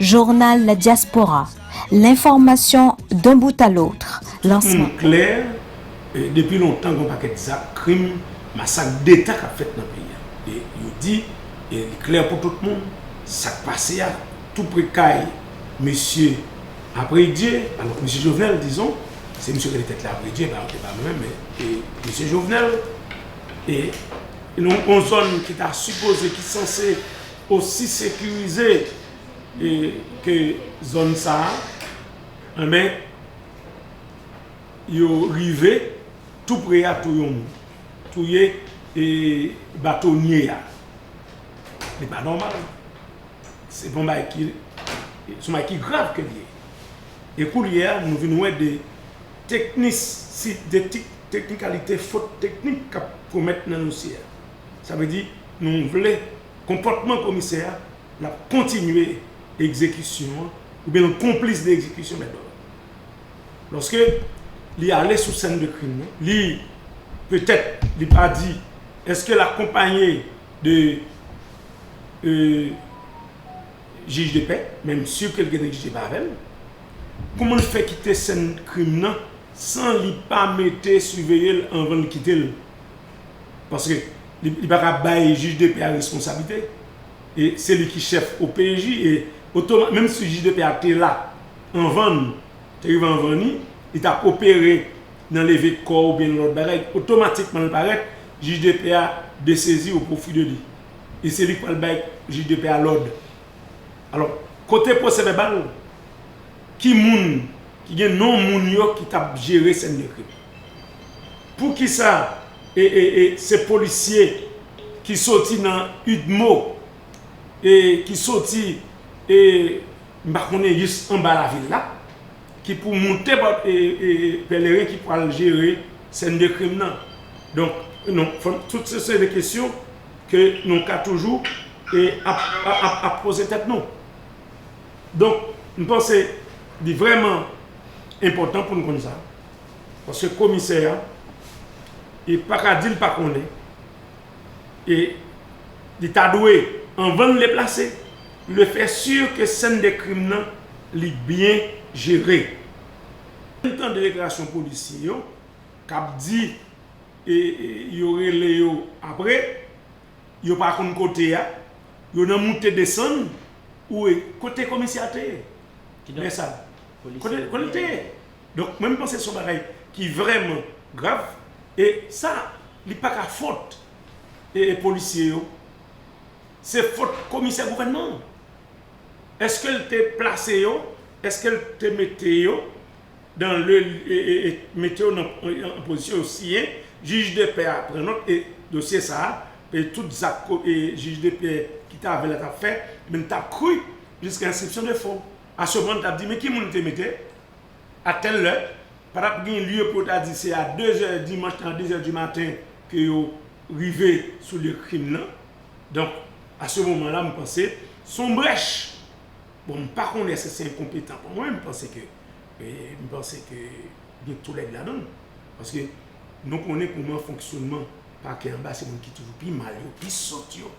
Journal la diaspora, l'information d'un bout à l'autre, lansman. Moun klè, depi lontan gen yon pakèt zak, krim, masak deta k ap fèt nan peyi a. E yo di, e li klè pou tout moun, sa k pase a tou pre kay mesye Apredye, alò mesye Jovenel dizon, se misye yo rele tèt li Apredye, e pa e pa mwen men e mesye Jovenel, e yon zòn ki ta sipoze, ki sanse osi sekirize ke zòn sa a anben yo rive tou pre a tou yon moun touye e batonye a li pa nòmal se bon bay ki son bay ki grav ke li ye e koulye a nou vin wè de teknis si de teknikalite fot teknik kap komèt nan dosye a. Sa vle di nou vle konpòtman komisè a l ap kontinye egzekisyon an oubyen l konplis de egzekisyon mèt dòm nan. Lòske li ale sou sèn de krim nan, li petèt li pa di èske l akonpanye de jij de pè men m si ke l gen neglige pa avè l. Kouman l fè kite sèn krim nan san li pa mete siveye l anvan l kite l? paske li pa ka bay jij de pè a responsablite e se li ki chèf OPJ e otomatik menm si jij de pè a te la anvan nou te rive anvan ni li ta opere nan leve kò oubyen nan lòt bagay otomatikman li parèt jij de pè a desezi o pwofi de li e se li ki pral bay jij de pè a lòd alò kote pwosè vèbal ki moun ki gen non moun yo ki tap jere sèn de krim. Poukisa se polisye ki soti nan udmo e ki soti e m pa konnen jis anba lavil la ki pou moute bò pèleren ki pwal jere sèn de krim nan donk non tout se se de kesyon ke nou ka toujou e ap poze tèt nou donk m panse li vrèman enpòtan pou n konn sa. Paske komisè a e pa ka di l pa konnen e li ta dwe anvan l deplase li fè si ke sèn de krim nan li byen jere. Ann tande deklarasyon polisye yo k ap di e yo rele yo apre yo pa konn kote a yo nan moute desann ou e kote komisè a te ye lè sa a? Kote l te ye? Donk mwen m panse son bagay ki vrèman grav e sa li paka fot e polisye yo se fot komisè gouvènman an eske l te plase yo eske l te mete yo dan le mete yo nan pozisyon yo siyen jij de pè a pran not e dosye sa e tout zak e jij de pè ki ta avè l la tap fè men tap kri jiska enskripsyon de fon a seman tap di men ki moun te mete A tèl lè, pa tap gen lye pou yo ta di se a 2 zè dimanch nan a 2 zè di maten ke yo rive sou lye krim nan. Donk, a se moman la, m panse, se yon brèch. Bon, m pa konnen èske se enkonpetan pa mwen, m panse ke, m panse ke gen tou lède ladan l. Paske, nou konnen kouman fonksyonman pakè anba se moun ki toujou pi mal yo, pi sòt yo.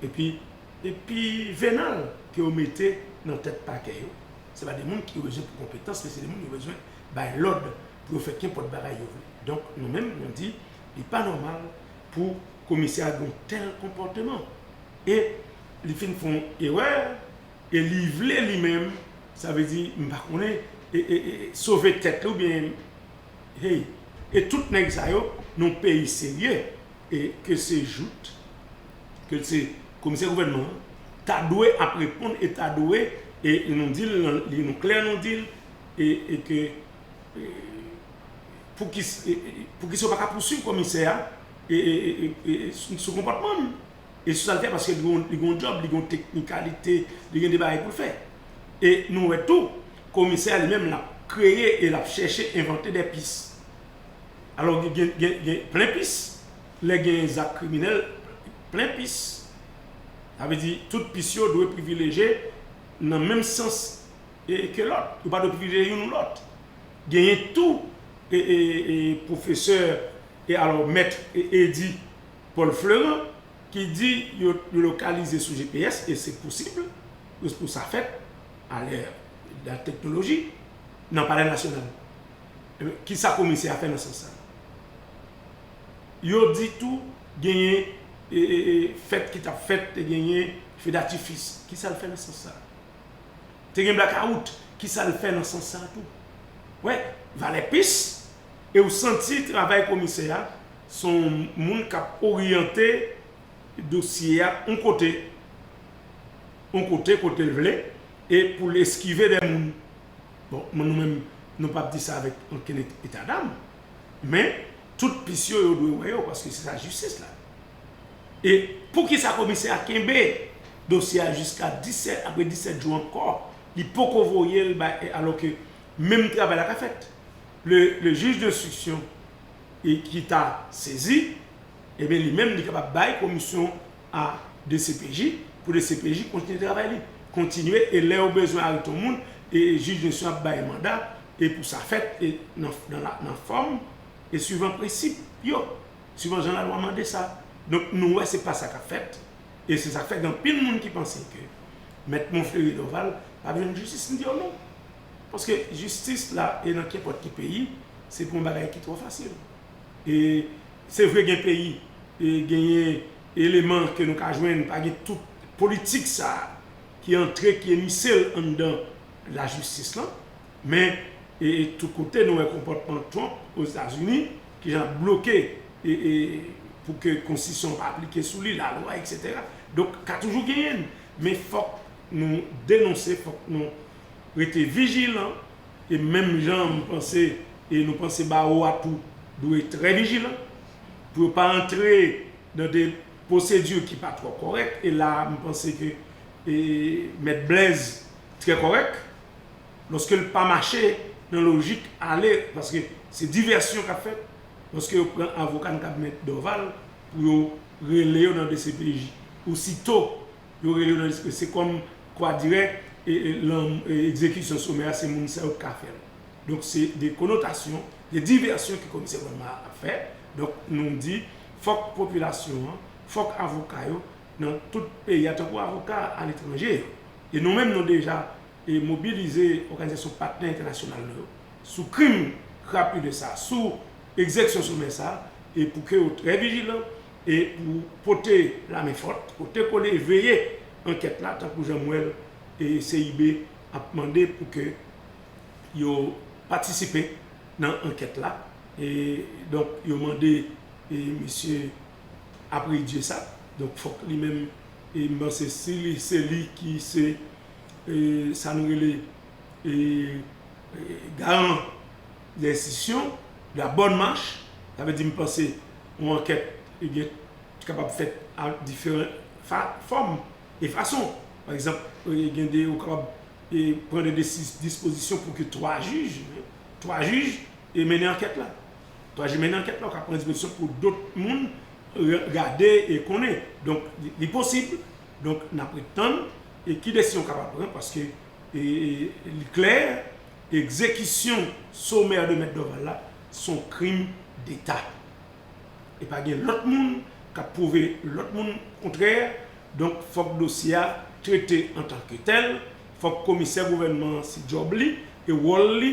Epi, epi venal ke yo mete nan tèt pakè yo. se pa de moun ki yo bezwen pou konpetans, men se de moun yo bezwen bay lòd pou yo fè kenpòt bagay yo vle. Donk, nou menm, nou di, li pa nòmal pou komisè a gen yon tèl konpòteman. E li fin fè yon erè, e li vle li menm, sa vle di, m pa konnen, sove tèt li oubyen, hey! E tout nèg sa yo, nan yon peyi serye, e ke se jout, ke se komisè gouvènman an ta dwe ap reponn e ta dwe e nou di l nan li nou klè nou di l e ke pou ki pou ki sa yo pa ka pousuiv komisè a e sou konpòtman l e sou sa l fè paske li gon li gon djòb li gon teknikalite li gen de bagay pou l fè e nou wè tou komisè a li menm l ap kreye e l ap chèche envante de pis alò gen gen gen plen pis Lè genyen zak kriminèl, plen pis. Sa vle di tout pis yo dwe privileje nan menm sans ke lòt. Yo pa dwe privileje youn ou lòt. Genyen tou pwofesè e alò Maître Eddy Paul Fleurant ki di yo lokalize sou gps e se posib pou sa fèt a lè da teknoloji nan palè nasyonal. Kisa komisè a fè nan sans sa? Yo di tou genyen fèt ki tap fèt te genyen fedatifis kisa l fè nan sans sa te gen blakawout kisa l fè nan sans sa tou wè valè pis e w santi travay komisè a se yon moun kap oryante dosye a yon kote yon kote kote l vle e pou l eskive dè moun bon nou menm nou pap di sa avèk okenn etadam. Men, tout pis yo, yo dwe wè yo paske se sa jistis la di. E poukisa komisè a kenbe dosye a jiska 17, apre 17 jou ankò, li poko voye l bay, alò ke menm travay la ka fèt? Le juge d'instruction ki ta sezi, ebyen li menm li kapab bay komisyon a dcpj pou dcpj kontinye travay li, kontinye e lè yo bezwen arete yon moun, juge d'instruction ap bay manda. e pou sa fèt e nan fòm e suivan prensip yo, suivan jan lalwa mande sa. Donk nou wè se pa sa k ap fèt e se sa k fè gen anpil moun ki panse ke Mèt Monferry Dorval p ap jwenn jistis. M di yo non, paske jistis la e nan kenpòt ki peyi se pou yon bagay ki twò fasil. E se vre gen peyi e genyen eleman ke nou ka jwenn pa gen tout politik sa ki antre ki emisel anndan lajistis lan, men tout kote nou wè konpòtman Trump Ozetazini ki jan ap bloke pou ke konstitisyon an pa aplike sou li, lalwa eksetera. Donk ka toujou genyen, men fòk nou denonse, fòk nou rete vijilan e menm jan m panse e nou panse bawo a tou dwe trè vijilan pou yo pa antre nan de pwosedi ki pa twò kòrèk e la a m panse ke Mèt Blèz trè kòrèk lòske l pa mache nan lojik ale paske se divèsyon k ap fèt lòske yo pran avoka n kab mèt Dòval pou yo rele yo nan dcpj osito yo rele yo nan dcpj se kòm kwa dirè egzekisyon somè a se moun sa yo k ka fè l donk se de konotasyon de divèsyon ke komisè Wayma a ap fè donk nou di fòk popilasyon an fòk avoka yo nan tout peyi a tankou avoka aletranje yo. E nou menm nou deja e mobilize òganizasyon patnè entènasyonal nou yo sou krim krapile sa a, sou egzeksyon somè sa a, e pou ke yo trè vijilan e pou pote lamen fòt, pote kole e veye ankèt la tankou jan m wè l e CIB ap mande pou ke yo patisipe nan ankèt la e donk yo mande e mesye. apre Dieu sa donk fok li menm e m panse si li se li ki se e sa nou rele e garan de enstitisyon de la bonne marche sa vle di m panse yon ankèt e byen ki kapab fèt a diferan fa fòm e fason pa egzanp e gen de ou kapab e pran de desi dispozisyon pou ke 3 jij 3 jij e mennen ankèt la. Pa janm mennen ankèt la ou ka pran dispozisyon pou dot moun gade e konnen. Donk li posib, donk n ap ret tann e ki desizyon ou kapab pran paske li klè egzekisyon somè de mèt Dòval la s on krim deta. E pa gen lòt moun k ap pwouve lòt moun kontrè, donk fòk dosye a trete antanke tèl, fòk komisè gouvènman an se djòb li e wòl li